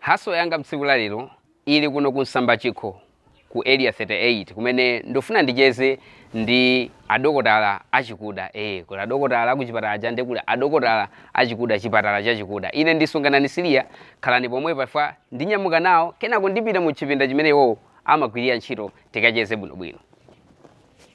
Hustle yanga tsiku la lero ili kuno ku Msambachikho ku Area 38 kumene ndufuna ndicheze ndi adokotala achikuda ee kuli adokotala akuchipatala aja nde kuli adokotala achikuda chipatala chachikuda ine ndi Sunganani Siliya khalani pomwepa chifukwa ndinyamuka nawo kenako ndipita mu chipinda chimene iwowo amagwirira ntchito tikacheze bwinobwino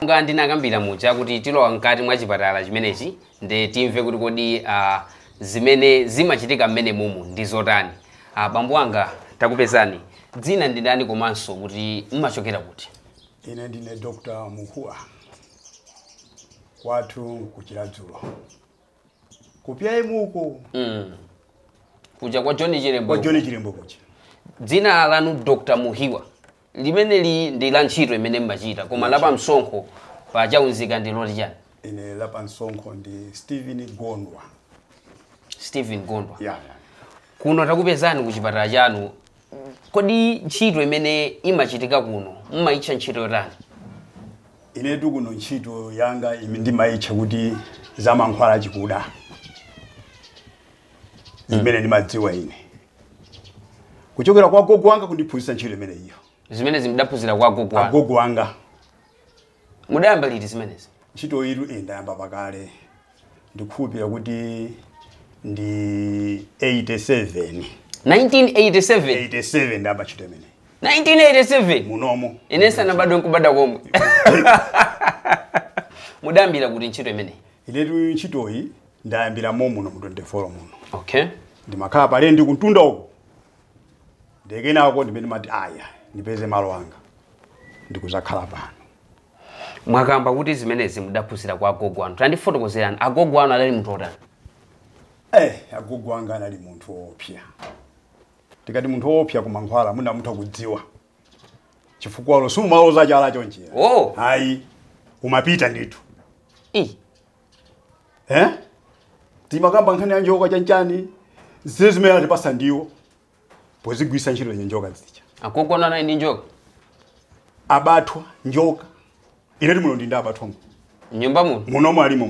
Monga ndinakambira muja kuti tilowa mkati mwa chipatala chimenechi nde timve kuti kodi uh, zimene zimachitika mmene mumu ndi zotani. Uh, bambo wanga takupezani, dzina ndi ndani komanso kuti mmachokera kuti? Ine ndine Dr. Muhuwa kwathu ku Chiradzulu. ku pm uko mm. kuja kwa john chirembo kwa john chirembo kuja dzina lanu dr muhiwa limeneli ndi la ntchito imene mmachita koma lapa msonkho pa chaunzika ndi loti chani ine lapa msonkho ndi stephen gondwa stephen gondwa yeah, yeah. kuno takupezani ku chipatala chanu Kodi ntchito imene imachitika kuno mumayitcha ntchito yotani? Inetu kuno ntchito yanga ndimayitcha kuti za mankhwala achikuda, zimene ndimadziwa ine kuchokera kwa agogo anga kundiphunzitsa ntchito imeneyiyo. Zimenezi mudaphunzira kwa agogo anu? Agogo anga. Mudayamba liti zimenezi? Ntchitoyitu ine ndayamba pakale, ndikukhulupirira kuti ndi 87. 1987? 87 ndayamba ntchito imeneyi. 1987? Munomo. Ine ndisanabadwe n'kubadwa komwe. Mudayambira kuti ntchito imeneyi? Inetu ntchitoyi ndayambira momuno mu 24 muno. Okay. Ndimakhala palendi kumtunda uko. Ndiye kenako ndimene ndimati aya ndipeze malo anga ndikuzakhala pano. Mwakamba kuti zimenezi mudaphunzira kwa agogo anu. Tandifotokozerani, agogo anu adali munthu otani? Eh, agogo anga anali munthu woopsa. Tikati munthu woopsa ku mankhwala mwina mutha kudziwa. Chifukwa uwo sumaloza chala chonchi. Oh. Ayi, umapita ndithu. Eh, Eh? Timakamba nkhani ya njoka chanchani. Zile zimene anali atipasa ndi iwo. pozigwiritsa ntchito njoka zija agogo anu anali ndi njoka abathwa njoka inetu muno ndili ndi abathwa mu nyumba muno munomo alimo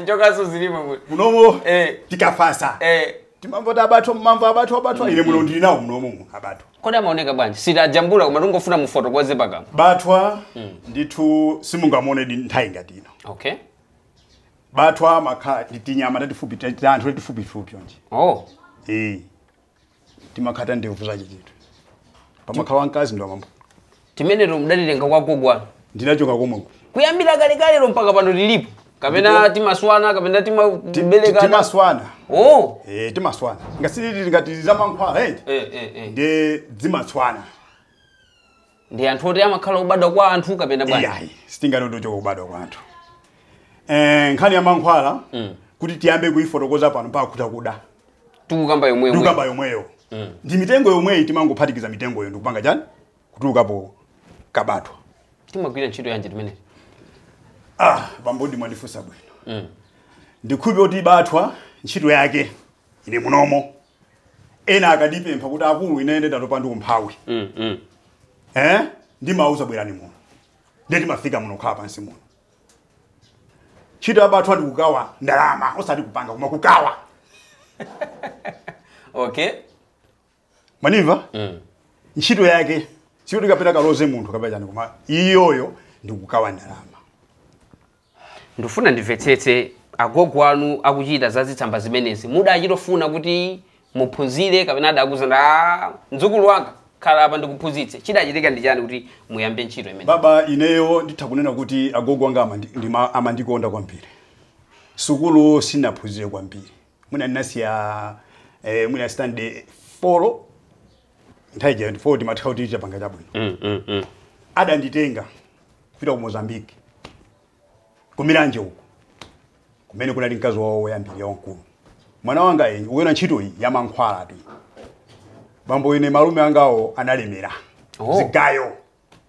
njokaso zilimo muno munomo Eh. tikafasa eh timamva kuti abathwa mumamva abathwa abathwa ine muno ndili nawo munomo abathwa kodi amaoneka bwanji sitajambula koma tingofuna mufotokoze pakamwa bathwa ndithu simungamuone nthawi ngati ino okay bathwa amakhala tinyama tatifupi ta- ta anthu tatifupifupi chonchi oh ee timakhala ta ndevu zache chinthu pamakhala wamkazi ndi wamambo timeneto mudatitenga kwa gogo wanu ndinachoka komweko kuyambira kalekalero mpaka pano tilipo kapena timaswana kapena timabereka timaswana oh ee timaswana nanga siti ngati zamankhwala eti eh eh eh ndi zimaswana ndi anthu oti amakhala kubadwa kwa anthu kapena bwanji iyayi sitingati tochoka kubadwa kwa anthu Eh, nkhani ya mankhwala kuti tiyambe kuyifotokoza pano mpaka kutakuda tikukamba yomweyo tikukamba yomweyo ndi mitengo yomweyi timangophatikiza mitengoyo ndikupanga chani kutulukapo kabathwa timagwira ntchito yanji timeneti ah bambodi mwandifunsa bwino ndikhupe kuti bathwa ntchito yake ine munomo ena akandipempha kuti akulu ine ine ndatopa ndi umphawi mm, mm. Eh? ndimauza bwerani muno nde timafika muno kukhala pansi muno ntchito ya bathwa ndi kukaba ndalama osati kupanga koma kukaba okay mwanimva mm. ntchito yake sikuti kapena kaloze munthu kapena chani koma iyoyo ndikukaba ndalama Ndifuna ndimvetsetse, agogo anu akuchita za zitsamba zimenezi mudachitofuna kuti muphunzire kapena adakuuzani mdzukulu wanga khala apa ndikuphunzitse chidachitika ndi chani kuti muyambe ntchito imene Baba, ineyo nditha kunena kuti agogo anga amandi- ndima- amandikonda kwambiri. Sukulu sinaphunzire kwambiri. mwina ndinasiya, eh, mwina standard folo nthawi ija folo timatha kuti chapanga chabwino mm, mm, mm. adanditenga kupita ku mozambique ku Milanje uko kumene kunali mkazi wawo woyambirira wamkulu mwana wanga ukuyiona ntchito iyi ya mankhwalatu bambo ine malume angawo analemera Oh. zigayo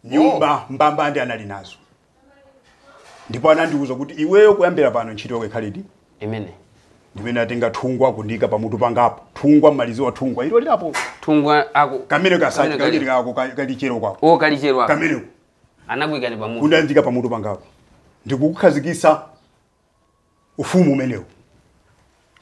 nyumba mbambande anali nazo ndipo anandiwuza kuti iweyo kuyambira pano ntchito yako ikhaledi imene ndimene atenga thungwa kundiika pamutu pangapo thungwa mmalizi wa thungwa ilo lilapo thungwa ako kamene kasati Kamene kamene kako ka- kalichero kwako o kalichero ako kameneko anakuikani pamutu kundiika pamutu pangapo ndikukukhazikisa ufumu umenewu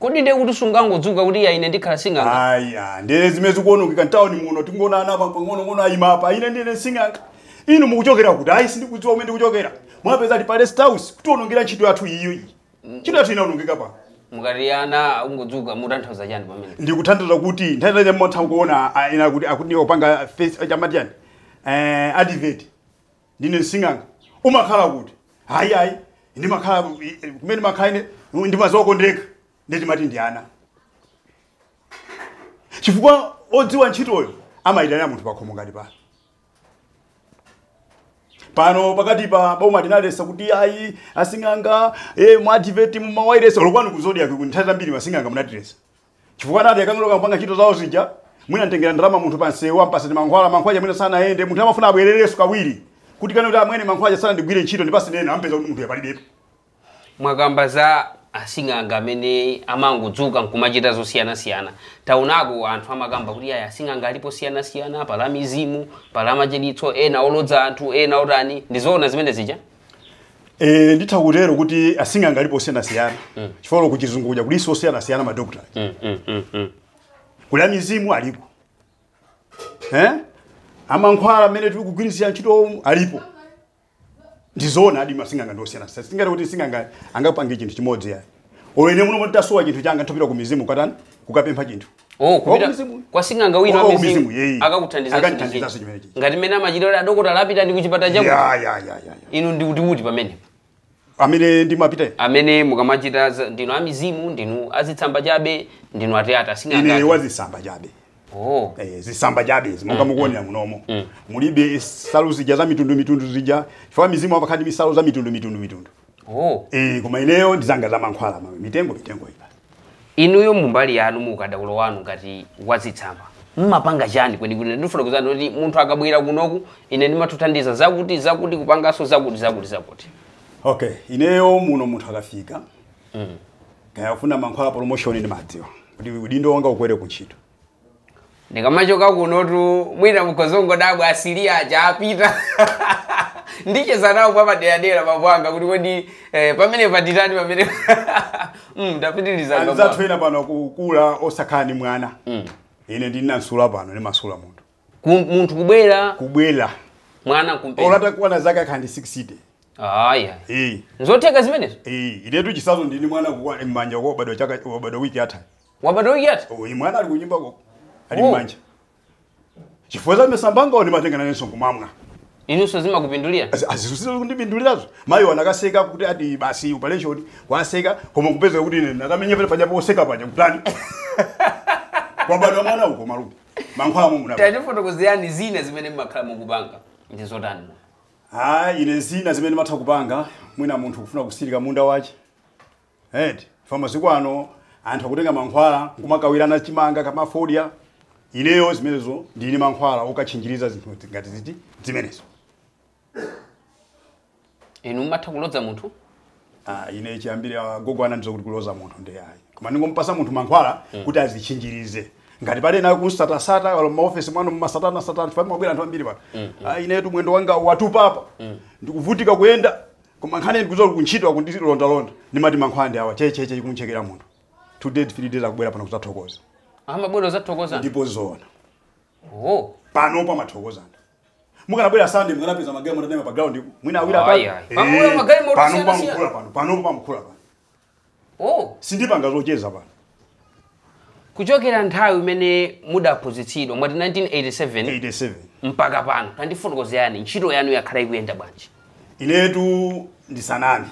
okay ndiye kuti sungangodzuka kuti ya ine ndikhala sing'anga aya ndiye zimene zikuononga mtawuni muno tingoona ana apa pang'onong'ono ayima apa ine ndine sing'anga inu mukuchokera kuti ayi sindikudziwa kumene ndikuchokera mwapeza ati pa rest house kutionongera ntchito yathu iyo iyi ntchito yathu inaonongeka pa mukati ana akungodzuka mutanthauza chani pamene ndikutanthauza kuti nthawi zake mmatha kuona ah, ena kuti akuti opanga face chamati chani eh advert ndine sing'anga umakhala kuti hayi ayi ndimakhala ku- i- i- kumene ndimakhala ine ndimazokondeka ndiye timati ndi ana chifukwa odziwa ntchitoyo amayitanira munthu pakhomo ngati pano pano pakati pa boma tinaletsa kuti ayi asing'anga eh, ma advert m'mawailesi lokwani ku Zodiak nthawi zambiri masing'anga munatiletsa chifukwa atati akangolowa kupanga ntchito zawo zija mwina amtengera ndalama munthu pa msewu ampatsa ndi mankhwala mankhwala amene sanayende munthu amafuna abwererenso kawiri kuti akanene kuti amwene mankhwala aja sanandigwire ntchito ndipatseni ena ampeza kuti munthu uja palibepo mwakamba za asing'anga amene amangodzuka nkumachita zosiyanasiyana taonako anthu amakamba kuti aya asing'anga alipo osiyanasiyana pali amizimu pali amachiritso ena olodza anthu ena otani ndizoona zimene zija Eh, nditha kutero kuti asing'anga alipo osiyanasiyana chifukwa kuchizungu kuja kulinso osiyanasiyana madokotala Mm, mm, mm, mm. kuli amizimu alipo eh? amankhwala amene tili kugwiritsira ntchito alipo ndizoonadi masing'anga ndi osiyanasiyana sitingati kuti sing'anga angapange chinthu chimodzi yayi olo ine muno mutasowa chinthu changa nditopita ku mizimu kukatani kukapempha chinthu Oh, kupita Wakumizimu. kwa sing'anga wina Wa- wa mizimu wakumizimu, yeye. akakuthandizanso Akakuthandizanso ndi chimene chija. ngati mmene amachitira adokotala apita ndi kuchipata chaku ya ya ya ya ya inu ndi kuti kuti pamene amene ndimapita amene mukamachita za- ndinu amizimu ndinu azitsamba chabe ndinu ateyata ine sing'anga wazitsamba chabe oh Eh, zitsamba chabe chimonga mukuonera munomo mulibe nsalu zija za mitundu mitundu zija chifukwa amizimu amakhala ndi nsalu za mitundu mitundu mitundu oh Eh, koma ineyo ndizanga za mankhwala ma- mitengo mitengo ipa Inuyo mu mbali yanu mu ukadaulo wanu ngati wazitsamba mmapanga chani kwenikweni ndifotokozereni kuti munthu akabwera kunoku ine ndimamuthandiza zakuti zakuti kupanganso zakuti zakuti zakuti okay ineyo muno munthu akafika mm. kaya afuna mankhwala promotion ndimadziwa, kuti udindo wanga ukwere kuntchito ndikamachoka kunotu mwina mukhoza kungodabwa asisi aja apita ndicheza nawo mwapaderadera bambo anga kuti kodi eh, pamene patitani pamene Mm, tapitiliza bambo anga. anzathu ena pano akukula osakhala ndi mwana ine ndimamasula pano ndimasula munthu Ku- munthu kubwera kubwera mwana kumpeza olo atakwana zaka akhale ndi 60 aya Eh, nzotheka zimenezo eh, inetu chitsanzo ndili ndi mwana kukwa- m'manja kwa wabadwa chaka wabadwa wiki yatha wabadwa wiki yatha uyu mwana ali kunyumba koko ali Oh. mmanja chifukwa cha zitsamba zanga oh ndimatenga nanenso nkumamwa inunso zimakupindulira azizungulire kundipindulirazo mayi wanakatseka kuti ati basi operation watseka koma kupezeka kuti ine nakamenya pale paja potseka paja kutani kwabadwa mwana uko malume mankhwala momwe muno apa tatifotokozerani zina zimene mmakhala mukupanga ndi zotani hayi ine zina zimene ndimatha kupanga mwina munthu kufuna kutsirika munda wache eti chifukwa masiku ano anthu akutenga mankhwala nkumakawirana chimanga kaya fodya ineyo zimenezo ndili ndi mankhwala okatchinjirizira zinthu ngati ziti zimenezo inu mumatha kulodza munthu Ah, ine chiyambire agogo anandiuza kuti kulodza munthu ndi ayi koma ndingompatsa munthu mankhwala kuti adzitchinjirize ngati pali ena akumsatasata olo m'maofesi mwanu mmasatanasatana chifukwa amabwera anthu ambiri pano Ah, inetu mwendo wanga watupa apa ndikuvutika kuyenda Koma nkhani ndi kuzoru kuntchito akundilondalonda ndimati mankhwala ndi awa che che che kumuchekera munthu two days three days akubwera pano kuzathokoza amabwera kuzathokoza ndipo zoona oh pano pamathokoza anthu mukanabwera sunday mukanapeza magalimoto ataima pa ground mwina awiri Ayi, ayi. Pamula magalimoto pano siyana pamkhula siyana. pano pano pamkhula pano Oh, sindipanga zocheza pano kuchokera nthawi imene mudaphunzitsidwa mwati 1987 87 mpaka pano tandifotokozerani ntchito yanu yakhala ikuyenda bwanji inetu ndisaname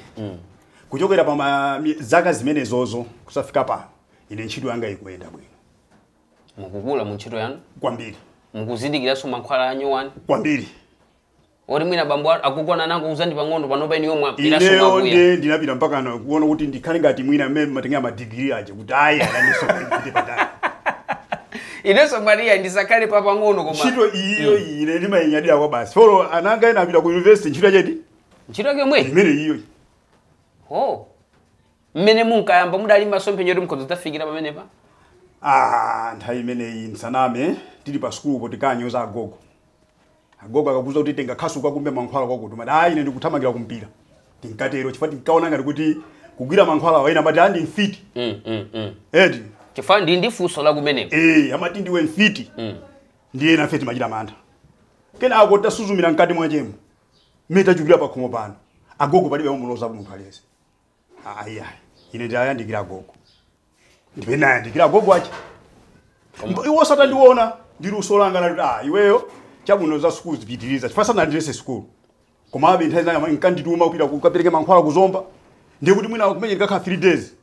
kuchokera pa ma- mi- zaka zimenezozo kuzafika pano ine ntchito yanga ikuyenda bwino mukukula mu ntchito yanu kwambiri mukuzindikiranso mankhwala anyowani kwambiri oti mwina bambo a- agogo anangouza ndi pang'ono panopa ineyo ndapitanso ineyo mwakuya nde ndinapita mpaka na- kuona kuti ndikhale ngati mwina mmene amatengera madigiri aja kuti ayi nanenso ndipite patali inenso maria ndisakhale pa pang'ono koma ntchito iyo ine ndimayinyadira kwabasi olo ana anga ena apita ku university ntchito yachedi ntchito yake yomwe imeneyo ho mmene munkayamba mudali masomphenya oti mukhoza kudzafikira pamenepa ah nthawi imeneyi nsaname tili pa sukulupo tinkanyoza agogo Agogo akakuuza kuti tenga khasu ukakumbe mankhwala kwakuti, umati, Ayi, ine ndikuthamangira kumpira. Tinkatero chifukwa tinkaona ngati kuti kugwira mankhwalawa ena amati, "Ah, ndi mfiti. Mm, mm, mm. Eti, chifukwa ndi ndi funso la kumeneko eh, amati ndiwe mfiti. Ndiye nafe timachita mantha. Kenako tasuzumira mkati mwachemo. Mmene tachukira pakhomo pano. Agogo palibe amuloza munthu aliyense. Ayi, ayi. Ine ndayandikira agogo. ndipo ena ayandikira agogo ache Mbo- iwonso atandiona ndi luso langa anati ah iweyo chabwino za sukulu zipitiriza chifukwa sanandilese sukulu komabe nthawi zina ankandituma kupita kukapereka mankhwala ku Zomba ndiye kuti mwina kumene ndikakhala 3 days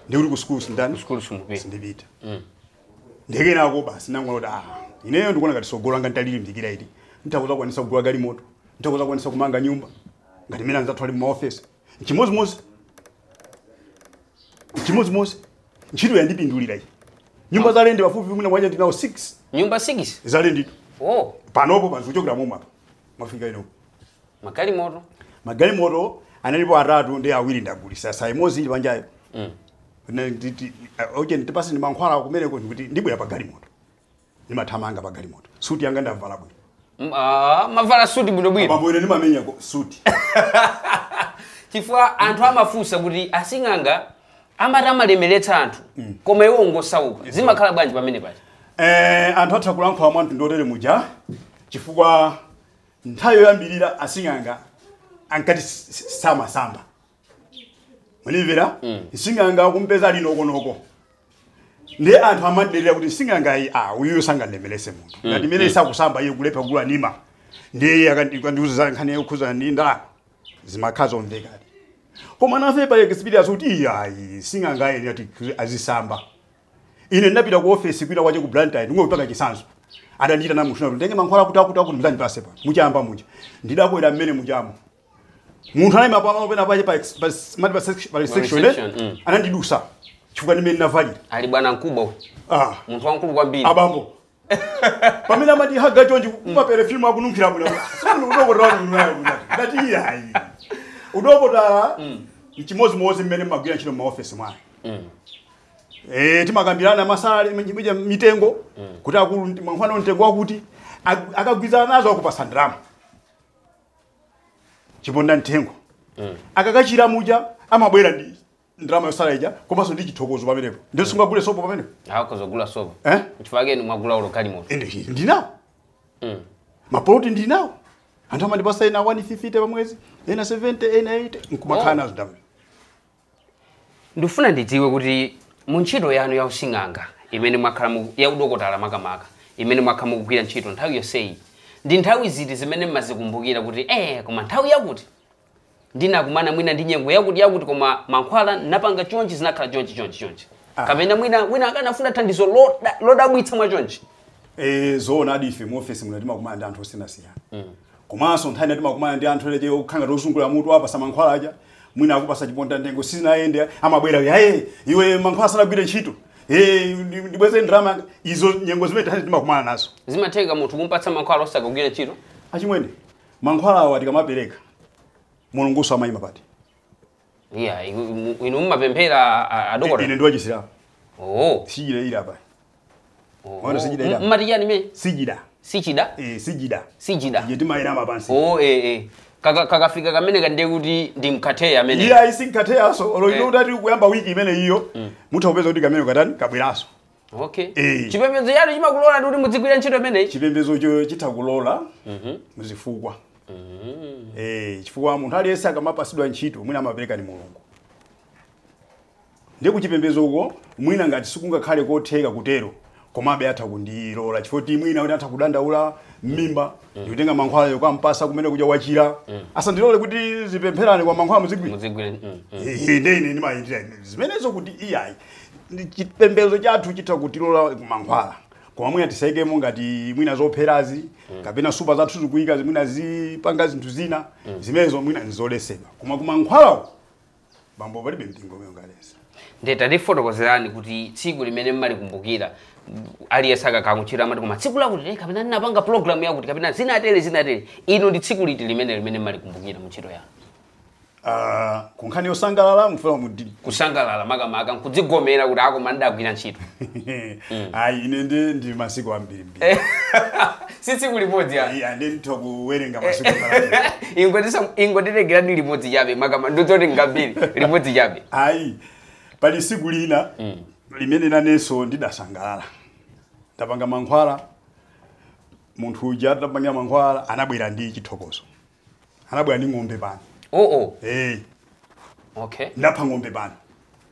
ndiye kuti ku sukulu sinditani Sukulu simupita. sindipita nde kenako basi nangona kuti ah ineyo ndikuona ngati sogolo langa ntalilimbikira ili ntha kuzakwanisa kugula galimoto ntha kuzakwanisa kumanga nyumba ngati mene anzathu ali mumaofesi nchimozimozi nchimozimozi ntchito yandipindulira iyi nyumba za lendi pafupi mwina mwaja ndinazo 6 nyumba 6 za lenditu oh panopo panzi kuchokera momwe apa mwafika ino magalimoto magalimoto analipo atatu ndiye awiri ndagulisa sa imodzi ili panjayo mm. oje ndipaseni mankhwala kumeneko ndikuti ndibwera pa galimoto ndimathamanga pa galimoto suti yanga ndavala bwino M- ah, mavala suti bwinobwino bambo ine ndimamenya ko- suti chifukwa anthu amafunsa kuti asing'anga amati amalemeretsa anthu koma iwo ngosauka zimakhala bwanji pamene paja Eh, anthu atha kulankhula mwa mtundu otere muja chifukwa nthawi yoyambirira asing'anga ankati s- s- samasamba mumamvera nsing'anga akumpeza ali nokonoko ndi anthu amaderera kuti nsing'anga iyi a uyuyo sangandemerese munthu ngati imene isakusamba iye kulepha kugula nima ndiye iye akandi- akandiuza za nkhani yokhuzana ndi ndalama zimakhala zomvekadi koma nafe pa experience kuti iyi ayi sing'anga ayi ati azisamba ine ndinapita ku ofesi kwina kwache ku blantyre ndingopanga chisanzo adandiita namushina kuti nditenge mankhwala kuti akuti akuti muzandipase pa muchamba muja ndidakwera mmene muchamo munthu anayima pamalo pena pache pa ex- pa s- mati pa sex- pa reception reception, eh? mm. anandidusa chifukwa ndimene ndinavalira ali bwana mkubwa uyu. ah munthu wamkulu kwambiri abambo pamene amati aka chonji kumapere filmu akununkhira bwino si inu udokotala unayo bwino ndati iyayi udokotala mchimozimozi mmene mmagwira ntchito mmaofesi mwayi Eh, timakambirana madzala mija mitengo kuti akulu mankhwala mtengo wakuti ak- akagwirizana nazo akupasa ndalama chiponda mtengo akakachira muja amabwera ndi ndalama yosala ija komanso ndi chithokozo pamenepo ndiye sungagule sopo pamenepo akhoza kugula sopo Eh? chifukwa chake mwagula ulo galimoto ende chi- ndinawo Mm. mapoloti ndinawo anthu amandipasa ena 150 pamwezi ena 70 ena 80 nkumakhala Oh. nazo ndalama ndifuna ndidziwe kuti mu ntchito yanu ya using'anga imene mwakhala mu- ya udokotala makamaka imene mwakhala mukugwira ntchito nthawi yonseyi ndi nthawi ziti zimene mmazikumbukira kuti eh koma nthawi yakuti ndinakumana mwina ndi nyengo yakuti yakuti koma mankhwala napanga chonchi zinakhala chonchi chonchi chonchi kapena mwina wina akanafuna thandizo loda- lodabwitsa mwa chonchi Eh, zoonadi ife mu office muno timakumana ndi anthu osiyanasiyana Komanso nthawi ina timakumana ndi anthu ena aje okhala ngati ozungulira mutu wapasa mankhwala aja mwina akupasa chiponda mtengo sizinayende amabwera ayi iwe mankhwala sanagwire ntchito Eh, ndi- ndibweze ndalama izo nyengo zimene tani timakumana nazo zimatheka munthu kumpatsa mankhwala osakagwira ntchito achimwene mankhwala awa tikamapereka mulunguso amayima pati iya iku- mu- inu mumapemphera a- a- adokota ine ndiwa chisilamu oo sijida ili apa oo. Mwaona sijida M- ila. mmati chani mmene sijida sijida eh, sijida sijida iye timawerama pansi oo eh, eh. Kaka- kakafika kamene ka ndiye kuti ndi nkatheya amene iye ayi sinkatheyaso olo ino Eh. utati kuyamba wiki imene iyo mutha kupeza kuti kameneka tani kabweraso okay Eh. chipembedzo chanu chimakulolani kuti mudzigwira ntchito imeneyi chipembedzocho chitha kulola muzifukwa Eh, chifukwa munthu aliyense akamapasidwa ntchito mwina amapereka ni mulungu ndiye kuchipembedzo uko mwina ngati sikungakhale kotheka kutero komabe atha kundilola chifukwa ti mwina kuti atha kudandaula mmimba ndikutenga mankhwala yokampasa kumene kuja wachira asandilole kuti zipempherana kwa mankhwala muzigwira mudzigwira mm, mm. Ehe, nde ine ndimayendera zimenezo kuti iyayi Ndi chipembedzo chathu chitha kutilola kumankhwala koma mwina tisayikemo ngati mwina zopherazi kapena nsupa zathu zikuyika mwina zipanga zinthu zina zimenezo mwina nzoletsedwa koma kumankhwalawo bambo palibe mpingo umene ungaletse nde tatifotokozerani kuti tsiku limene mmalikumbukira aliyense akakhala kuntchito amati koma tsiku lakuti lili kapena ndinapanga programu yakuti kapena zinatele zinatele inu ndi tsiku liti limene limene mmalikumbukira mu ntchito yanu Ah, ku nkhani yosangalala mufuna kuti kusangalala makamaka nkudzigomera kuti a koma ndagwira ntchito ayi ine ndi ndi masiku ambirimbiri si tsiku limodzi ya Ayi, ande nditha kuwerenga masiku ambiri. ingotiwerengerani limodzi chabe makama ndidzoti ngambiri limodzi chabe ayi pali tsiku lina limene nanenso ndidasangalala ndapanga mankhwala munthu uja ndapanga mankhwala anabwera ndi chithokozo anabwera ndi ng'ombe pano oh oh hey. okay ndapha ng'ombe pano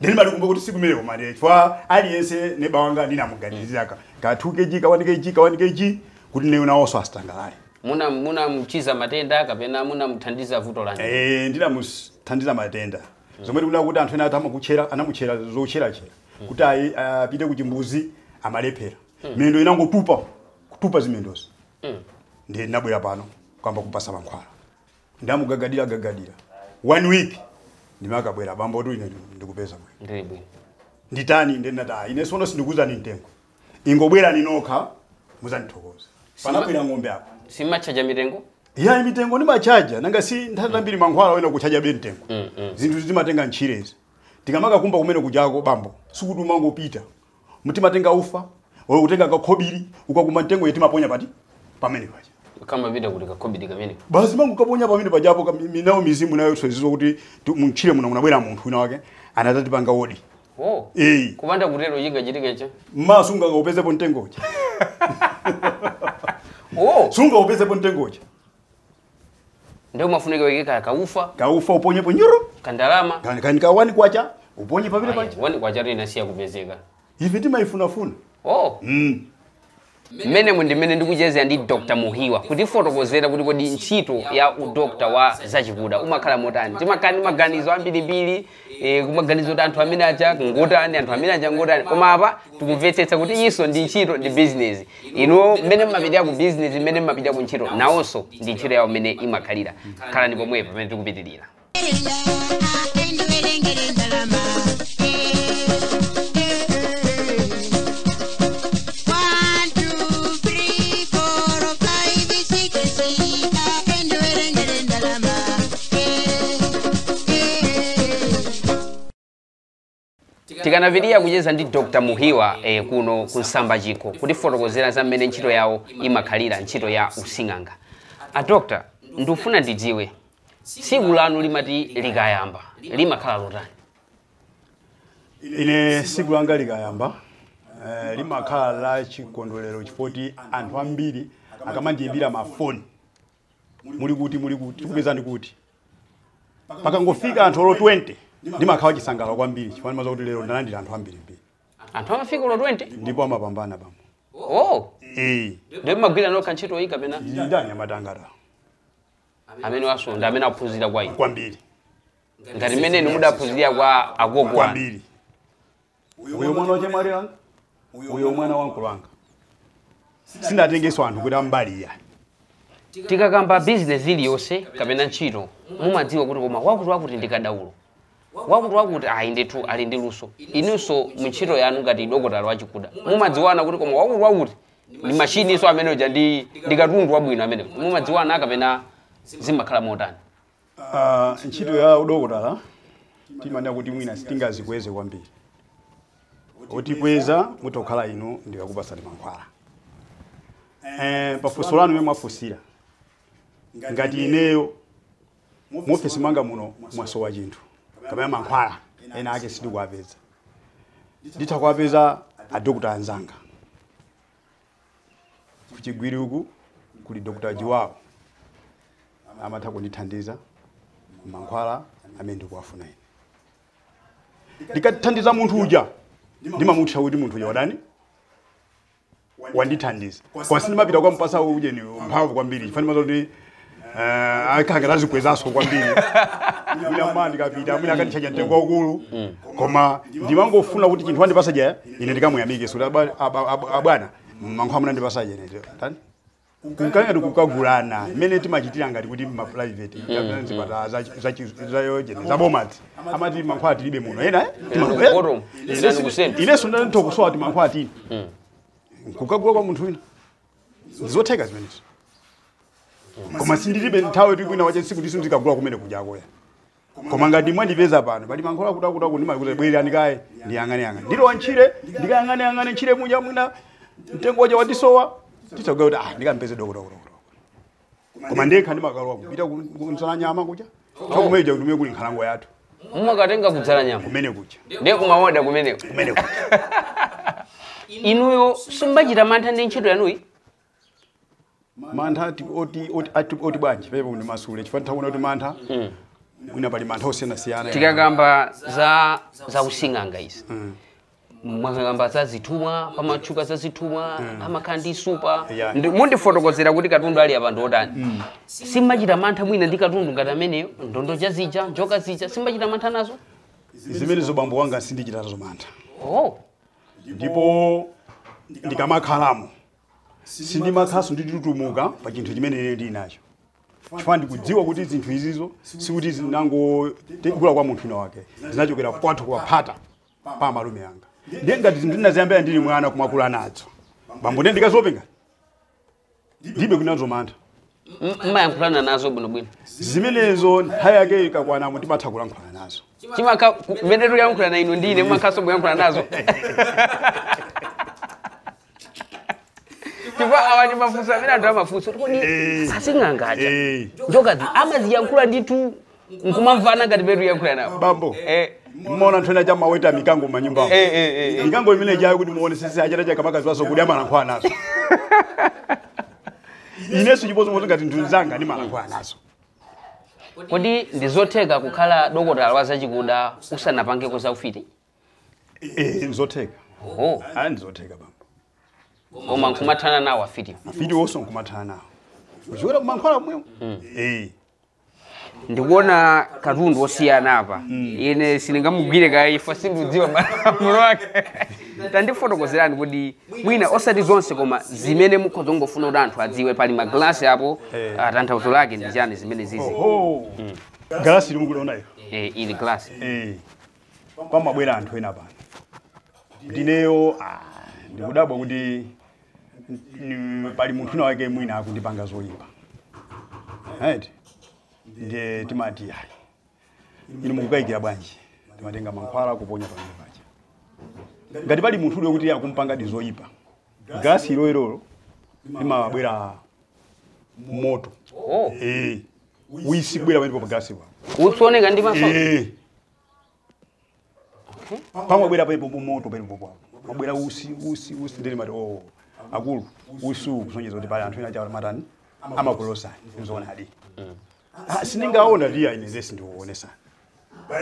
nde ndimalikumbuka kuti tsiku limenelo mali chifukwa aliyense neba wanga ndinamuganizira ka ka 2 kg ka 1 kg ka 1 kg kuti nayo nawonso asangalale muna munamchiza matenda kapena munamuthandiza vuto lanji Eh, ndinamuthandiza matenda zomwe tikunena kuti anthu ena ati amakutchera anamutchera zotcheratchera kuti apite kuchimbuzi amalephera miyendo inangotupa kutupa zimendozi ndiye anabwera pano kuyamba kumpatsa mankhwala ndamugagadira gagadira one week ndimakabwera bambotu ine ndikupeza bwino ndili bwino nditani ndiye ndinati "Ah, ine sono sindikuzani mtengo ingobwerani nokha muzandithokoza panabwera ng'ombe apo simumatchaja mitengo ya mitengo ndimatchaja nanga si nthawi zambiri mankhwala oyenera kutchajabe mtengo zinthu timatenga mtchirezi tikamakakumba kumene kujako bambo sikuti umangopita timatenga ufa or kutenga kakhobiri ukakumba mtengo uja timaponya pati pamene paja kama vita kuti kakhobiri kamene basi umangokaponya pamene pajapo ka- mi- nayo mizimu nayonso izidziwa kuti ti- mtchire muno munabwera munthu wina wake anadzatipanga odi oh Eh. kupanda kutero chingachitike n'chani mawa sungakaupezepo mtengo uja oh sungaupezepo mtengo uja nde umafunika uike ka kaufa kaufa uponyepo olo kandalama kani kani ka wani kwacha uponye pamene paja, paja wani kwacha inasiya kupezeka ife timaifunafuna oh mm. mmenemu ndi mmene ndikuchezera ndi dr Muhiwa kutifotokozera kuti kodi ntchito ya udokta wa zachikuda umakhala motani timakhala ndi maganizo ambirimbiri e, kumaganiza kuti anthu amene aja ngotani anthu amene aja ngotani koma apa tikumvetsetsa kuti iyinso ndi ntchito ndi business inu mmene mmapitira ku business mmene mmapitira ku ntchito nawonso ndi ntchito yawo mmene imakhalira khalani pomwepo pamene tikupitirira tikupitiriza kucheza ndi dr muhiwa eh, kuno ku nsamba chiko kutifotokozera za mmene ntchito yawo imakhalira ntchito ya using'anga a dr ndikufuna ndidziwe tsiku lanu limati likayamba limakhala lotani ine tsiku langa likayamba eh, limakhala la chikondwerero chifoti anthu ambiri akamandiyimbira mafoni muli kuti muli kuti tikupezani kuti pakangofika anthu olo 20 ndimakhala wachisangalalo kwambiri chifukwa ndimadziwa kuti lero ndalandira anthu ambirimbiri anthu amafika olo 20 ndipo amapambana pamo oh ee ndiye mumagwira nokha ntchito iyi kapena ndani amathangata amene mwasonda amene aphunzira kwa inu kwambiri ngati mmene inu mudaphunzira kwa agogo anu kwambiri uyo mwana wa chemwali wanga uyo mwana wa mkulu wanga sindinatengeso anthu kuti ambali iya tikakamba bizinesi iliyonse kapena ntchito mumadziwa kuti koma wakuti wakuti ndi kadaulo wakuti wakuti ayi ndithu ali ndi luso inunso mu ntchito yanu ngati dokotala wachikuda mumadziwana kuti koma wakuti wakuti ndi mashininso amene uja ndi ndi katundu wabwino amene mumadziwana kapena zimakhala motani Ah, ntchito ya udokotala timanena kuti mwina sitingadzikweze kwambiri otikweza mutha kukhala inu ndikakupatsani mankhwala eh, pafunso lanu mmene mwafunsira ngati ineyo muofesi mwanga muno mwasowa chinthu kapena mankhwala ena ake sindikuwapeza nditha kuwapeza adokotala anzanga kuChigwiri uku kuli dr jiwawo amatha kundithandiza mankhwala amene ndikuwafuna ine ndikathandiza munthu uja ndimamutsata kuti munthu uja wadani wandithandiza koma sindimapita kukampasa ujeni mphamvu kwambiri chifa ndimadziwa kuti akangadzikwezaso kwambiri mwina mawa ndikapita mwina akanditchaja mtengo waukulu koma ndimangofuna kuti chinthu andipasa chija ine ndikamuyamike sikuti aba- aba- aba- abwana mankhwala munandipasa ujeni tani kukhala ngati kukagulana mmene timachitira ngati kuti ma private kapena zipatala za- za chi- za ujeni za boma amati mankhwala tilibe muno ena eh? Timano- eh? Bottom. Ine Sani si- kusema. ineso nditha kusowa mankhwala nditha kukagula kwa munthu wina zotheka zimenezo koma ndilibe nthawi yoti kwinakwake tsiku limenelo ndikagula kumene kujako koma ngati mwandipeza pano pali mankhwala akutiakuti ndimati bwerani kaye ndiyang'aneyang'ane ndilowa ntchire ndikayang'aneyang'ane ntchire muja mwina mtengo uja wandisowa ndisanati kuti ah ndikampeze dokotala koma ndekha ndimakalowa kupita ku- kudzalanyama kuja chakumeja kuti kumene kuli nkhalango yathu mumakatenga ku dzalanyama kumene kuja ndiye kumaoda kumeneko kumene kuja inuyo simbachita mantha ndi ntchito yanuyi mantha ati- oti oti- ati- oti bwanji pena ndimasule tikatanthauza kuti mantha mwina pali mantha osiyanasiyana tikakamba za za using'anga izi mwakamba za zithumwa pamatchuka za zithumwa amakhala ndi supa Yeah. Ndi- mundifotokozera kuti katundu ali apa ndiotani simachita mantha mwina ndi katundu ngati ameneyo ndondo cha zija njoka zija simachita mantha nazo zimenezo bambo wanga sindichita nazo mantha oh ndipo ndikamakhalamo sindimakhalanso nditutumuka pa chinthu chimene ine ndili nacho chifukwa ndikudziwa kuti zinthu izizo sikuti zinangogula kwa munthu wina wake zinachokera kwathu kwa phata pa amalume anga ndiye ngati zinthu ndinaziyambira ndili mwana kumakula nazo bambo ndiye ndikazopenga ndibe kunazo mantha M- mmayankhulana nazo bwinobwino zimenezo nthawi yake ikakwanamo timatha kulankhulana nazo chimakha ku- mmene tikuyankhulana inu ndine mumathaso kuyankhulana nazo chifukwa awa ndi mafunso amene anthu amafunsa kuti kodi asing'anga aja Eh, njokazi amaziyankhula ndithu nkumamvana ngati peti kuyankhula nawo bambo Eh. mmaona anthu ena aja amaweta mikango manyumbamo Eh, eh, eh, eh. mikango imene ijayo kuti muone sisi achata chakamakazi waso kuti amalankhula nazo ineso chimodzimodzi ngati zinthu zanga ndimalankhula nazo kodi ndizotheka kukhala dokotala wa zachikuda usanapangeko za ufiti Eh, nzotheka oho ayi ndizotheka bambo koma nkumathana nawo afiti mafiti wonso nkumathana nawo kuchokera kumankhwala kumwemo Eh, ndikuona katundu osiyana apa ine sindingamugwire kaye chifukwa sindiudziwa malamulo ake tandifotokozerani kuti mwina osati zonse koma zimene mukhoza kungofuna kuti anthu adziwe pali magalasi apo ah, tanthauzo lake ndi chani zimenezizi oh galasi limukuliona ilo Eh, ili galasi Eh, pamabwera anthu ena pano nkuti ineyo ah, ndikudabwa kuti mm, pali munthu wina wake mwina akundipanga zoyipa right ndiye timati ayi inu mukukayikira bwanji timatenga mankhwala kuponya pamene paja ngati pali munthu uliyo kuti akumpangadi zoyipa galasi iloilolo limabwera moto oh. eh utsi kubwera pamene pa galasipa utsi ooneka ndi maso eh pamabwera pamenepo moto pamenepo pamabwera utsi utsi utsi ndiye timati oh akulu utsi kusonyeza kuti pali anthu ena chawo matani amakulodzani nzoonadi ah sindingaona ndi ayi zesi ndikuonesa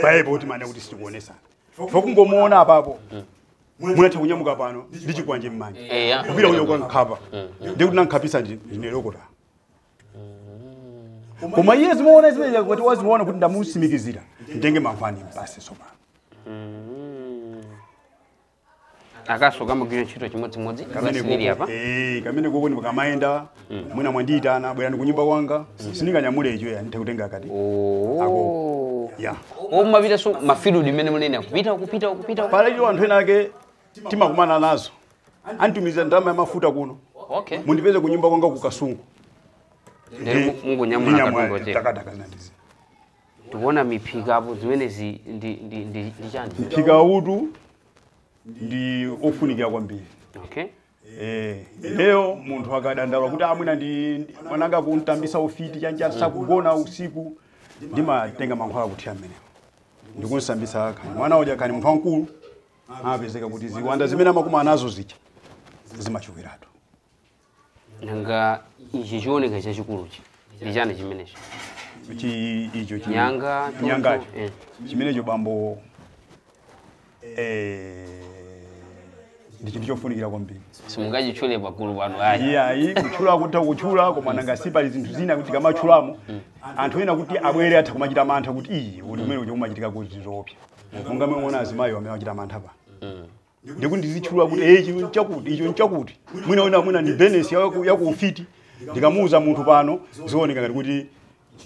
pa ipo kuti mane kuti sitikuonesa chifukwa kungomuona apapo mutha kunyamuka pano ndi chikwanje mmanja eya kupita uko kukamkhapa ndikuti wankhapitsa ndi ndine dokotala koma iye zimaona zimene zija kuti waziona kuti ndamusimikizira nditenge mankhwala ndimpatse sopano akanso kamagwira ntchito chimodzimodzi basirili apa Eh, kamene koko ndikamayenda mwina mwandiyitana bwerani kunyumba kwanga sindinganyamule icho ya ndithe kutenga akati Oh. ya mumapitanso mafield mmene mukunena kupita kupita kupita pala icho anthu ena ake timakumana nazo anditumizira ndalama ya mafuta kuno okay mundipeze ku nyumba kwanga ku kasungu ndere mumangonyamula Ndinyamula, katundu wochepa takataka zinandizi tikuona miphika apo zimenezi ndi ndi ndi ndi chani mphika utu ndi ofunikira kwambiri okay Eh, ineyo munthu akadandaula kuti a mwina ndi ndi- mwana wanga akumutambitsa ufiti chani cha sakugona usiku ndimatenga mankhwala kuthira mmenemo ndikumusambitsa kani mwana uja kani munthu wamkulu amapezeka kuti ziwanda zimene amakumana nazo zija zimachokeratu nanga ichi chioneka chachikuluchi ndi chani chimenecho Chi- icho chi- Nyanga, toto, nyangacho eh. chimenecho bambo eh, ndi chinthu chofunikira kwambiri simungachitchule pagulu pano ayi iyayi kutchula kutha kutchula koma nanga si pali zinthu zina zoti ukamatchulamo anthu ena kuti abwere atha kumachita mantha kuti iyi eti kumene kuja kumachitika eti zoopsa monga mwaona azimayi amene achita mantha pano ndikati ndizitchula kuti eh, ichi nchakuti icho nchakuti mwina wina mwina ndi business ya ku- ya ku ufiti ndikamuuza munthu pano zioneka ngati kuti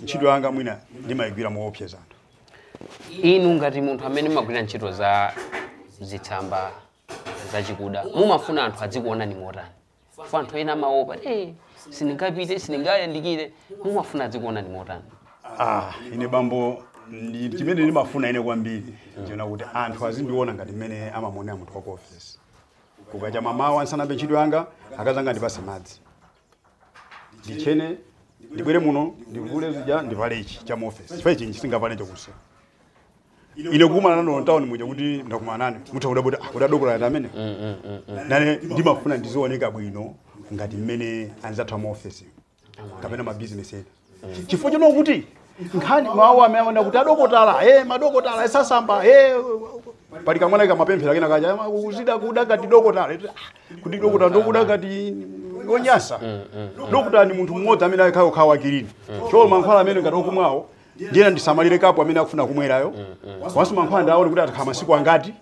ntchito yanga mwina ndimayigwira moopseza anthu inu ngati munthu amene mumagwira ntchito za zitsamba zachikuda mumafuna anthu adzikuonani motani kwa anthu ena amaopa eh, sindingapite sindingayandikire mumafuna adzikuonani motani ah ine bambo chimene ndimafuna ine kwambiri nchonena kuti anthu azindiona ngati mmene amamuonera munthu wa ku office kukacha mamawa ndisanayambe ntchito yanga akazanga andipatse madzi nditchene ndibwere muno ndivule zija ndivale ichi cha mu office chifukwa ichi sindingavale chakutsa ine kukumana nanu town muja kuti ndakumana nanu mutha kudabwa kuti a kodi dokotala ati amene mm, mm, mm, nane ndimafuna ndizioneka bwino ngati mmene anzathu ama office kapena ma business ena chifukwa chino kuti nkhani mawu amene amanena kuti adokotala eh madokotala osasamba eh pali kamwana kamapemphera kena kaja "Ama, kuzida kuda ngati dokotala Eti, "Ah, kuti dokotala ndi okuda ngati onyasa dokotala ni munthu mmodzi amene amakhala wa kilini cholo mankhwala amene ngati okumwawo ndiyena ndisamalire kapu amene akufuna kumwerayo komanso mankhwala ndione kuti atakhala masiku angati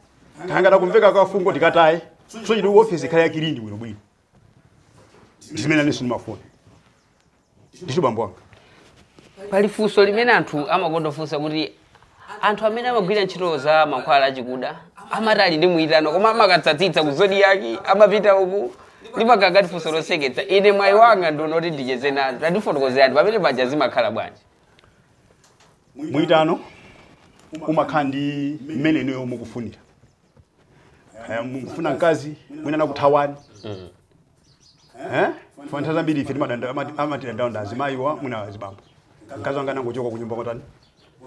kangayambe kumveka kafungo tikataye so kuti ofesi ikhale yakilini bwinobwino ndizimene nanenso ndimafuna ndicho bambo wanga pali funso limene anthu amakonda kufunsa kuti anthu amene amagwira ntchito za mankhwala achikuda amati ali ndi mwitano koma amakatsatsa ku zodiyaki amapita uku ndipakakati funso loseketsa ine mwayi wanga ndi wonena kuti ndicheze nazo tandifotokozerani pamene paja zimakhala bwanji mwitano umakhala ndi mmene inuyo mukufunira kaya mukufuna mkazi mwina anakuthawani Eh? Chifukwa nthawi zambiri ife timadanda- amati- amatidandaula azimayiwa mwina azibambo mkazi wanga anangochoka kunyumba kutani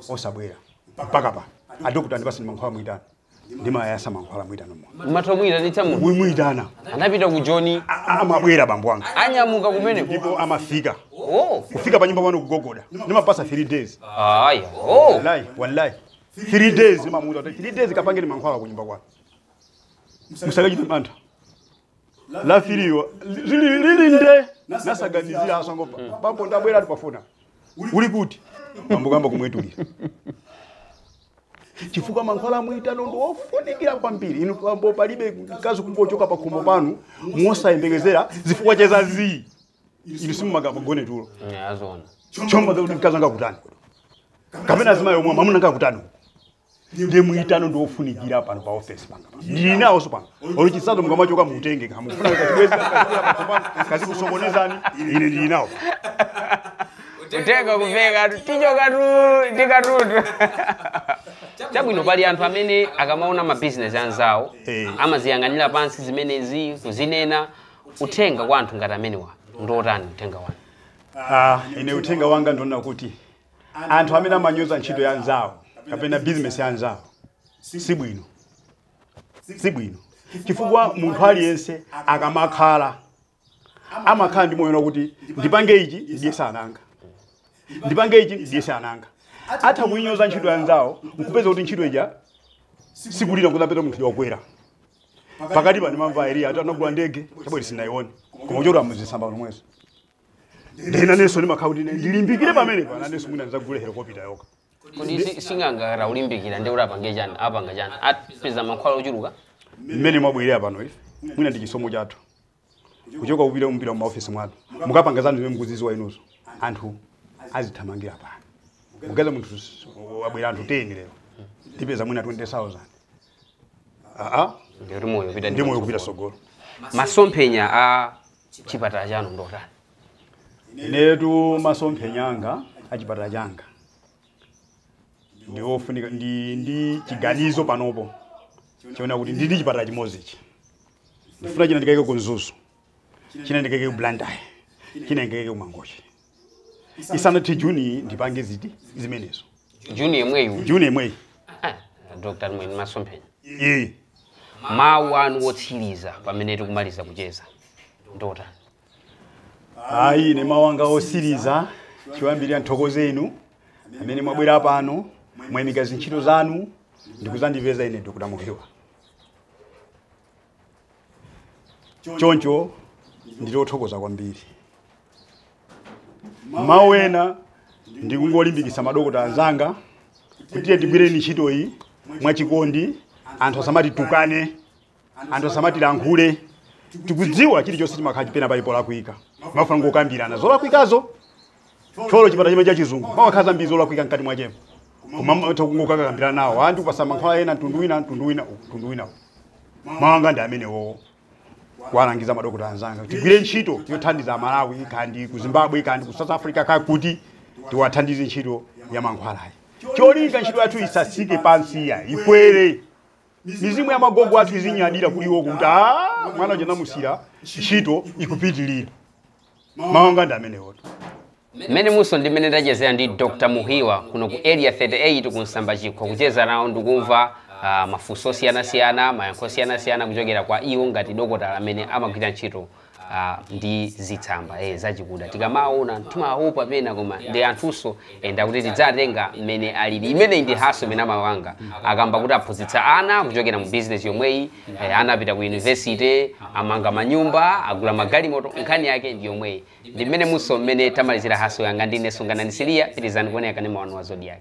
osabwera mpaka pano adokotala ndipatseni mankhwala mwitano ndimayasa mankhwala mwitano munthu umatha kuyitanitsa munthu kumuyitana anapita ku joni A- a- amabwera bambo wanga anyamuka kumeneko ndipo amafika oh kufika pa nyumba pano kugogoda ndimapasa 3 days aya oh wallahi wallahi 3 days ndimamuuza kuti 3 days kapangeni mankhwala ku nyumba kwanu musakachite mantha lachifili lili lili nde musanaganizire azangopa- bambo ndabwera ndikufuna uli kuti bambo kayamba kumwetulira chifukwa mankhwala a mwitano ndi ofunikira kwambiri inu bambo palibe mkazi kungochoka pa khomo panu mosayembekezera zifukwa za zii inu simungagone tulo zoona chomba kuti mkazi anga kutani kapena azimayi omwe mwamuna anga kutani ndiye mwitano ndi ofunikira pano pa ofesi panga ndili nawonso pano olo chisanu mukamachoka mutenge ngati mufuna kachibwenzi mkazi akusokonezani ine ndili nawo kutenga kuveka tichoka tu tikatutu chabwino pali anthu amene akamaona mabizinesi anzawo Eh. amaziyang'anira pansi zimenezi kuzinena uthenga kwa anthu ngati amenewa ndiotani uthenga wanu Ah, ine uthenga wanga ndi wonena kuti anthu amene amanyoza ntchito ya anzawo kapena bizinesi ya anzawo si bwino si bwino chifukwa munthu aliyense akamakhala amakhala ndi moyo kuti ndipange ichi ndiyese nanga ndipange ichi ndiyese nanga atha kuinyoza ntchito ya anzawo nkupeza kuti ntchito ija ikulira kuzapeza munthu yokwera pakati pa ndimamva eliya ati anagula ndege chabwe sinayione koma kuchokera muzisamba momwemo ndiye nanenso ndimakhala kuti ine ndilimbikire pamenepo nanenso mwina ndizagule helikopita yokha kodi si- sing'anga ataulimbikira ndi kuti apange chani apanga chani apeza mankhwala ochuluka mmene mwabwerera pano ife mwina ndi chisomo chathu kuchoka kupita kumpira mumaofesi mwanu mukapanga zanu zimene mukuziziwa inuzo anthu azithamangira pano mupeza munthu s- wabwera anthu 10 lero ndipeza mwina 20000 aa ndikuti moyo pita ndi moyo kupita sogolo masomphenya a chipatala chanu ndi otani inetu masomphenya anga a chipatala changa ndi ofunika ndili ndi chiganizo panopo choona kuti ndili ndi chipatala chimodzichi ndifuna china ndikaike ku mzuzu china ndikaike ku blantyre china ndikaike ku mangochi isanathe juni ndipange zinthu zimenezo juni yemweyu juni yemweyi Ah, dr mwini masomphenya ee mawu anu otsiriza pamene tikumaliza kucheza ndotani ayi ine mawu anga otsiriza choyambirira ndithokoze inu amene mwabwera pano mwayimika zintchito zanu ndikuzandipeza ine dr muhiwa choncho ndili othokoza kwambiri mawu ena ndikungolimbikitsa madokota anzanga kuti tiyeni tigwireni ntchito iyi mwachikondi anthu asamatitukane anthu asamatilankhule tikudziwa chilichonse chimakhala kuti pena pali polakwika mafunika kungokambirana zolakwikazo olo chipatala chimene chachizungu mumakhala zambiri zolakwika mkati mwachepo koma amatha kungokakambirana nawo anthu kupatsana mankhwala ena mtundu wina mtundu wina uwu, mtundu wina uwu. mawu anga ndi amenewowo kuwalangiza madokota anzanga kuti tigwire ntchito yothandiza amalawi kandi ku zimbabwe kandi ku south africa kakuti tiwathandize ntchito ya mankhwalayi cholinga ntchito yathu isatsike pansi ya ikwere mizimu ya magogo athu izinyadira kuli uko kuti mwana uja ndinamusiira ntchito ikupitirira mawu anga ndi amenewotu mmenemutu ndi mmene ndachezera ndi dr muhiwa kuno ku area 38 ku nsamba chikho kucheza nawo ndikumva ah, mafunso osiyanasiyana mayankho osiyanasiyana kuchokera kwa iwo ngati dokotala amene amagwira ntchito ah, ndi zitsamba eh, zachikuda tikamaona timaopa pena koma ndi anthunso eh, ndakuti tiziwatenga mmene alili imeneyi ndi haso imene a muhiwa akamba kuti aphunzitsa ana kuchokera mu bizinesi yomweyi eh, ana apita ku yunivesite amanga manyumba agula magalimoto nkhani yake ndi yomweyi ndi mmenemunso mmene tamalizira haso yanga ndine sunganani siliya pitizani kuonera kanema wanu wa zodiak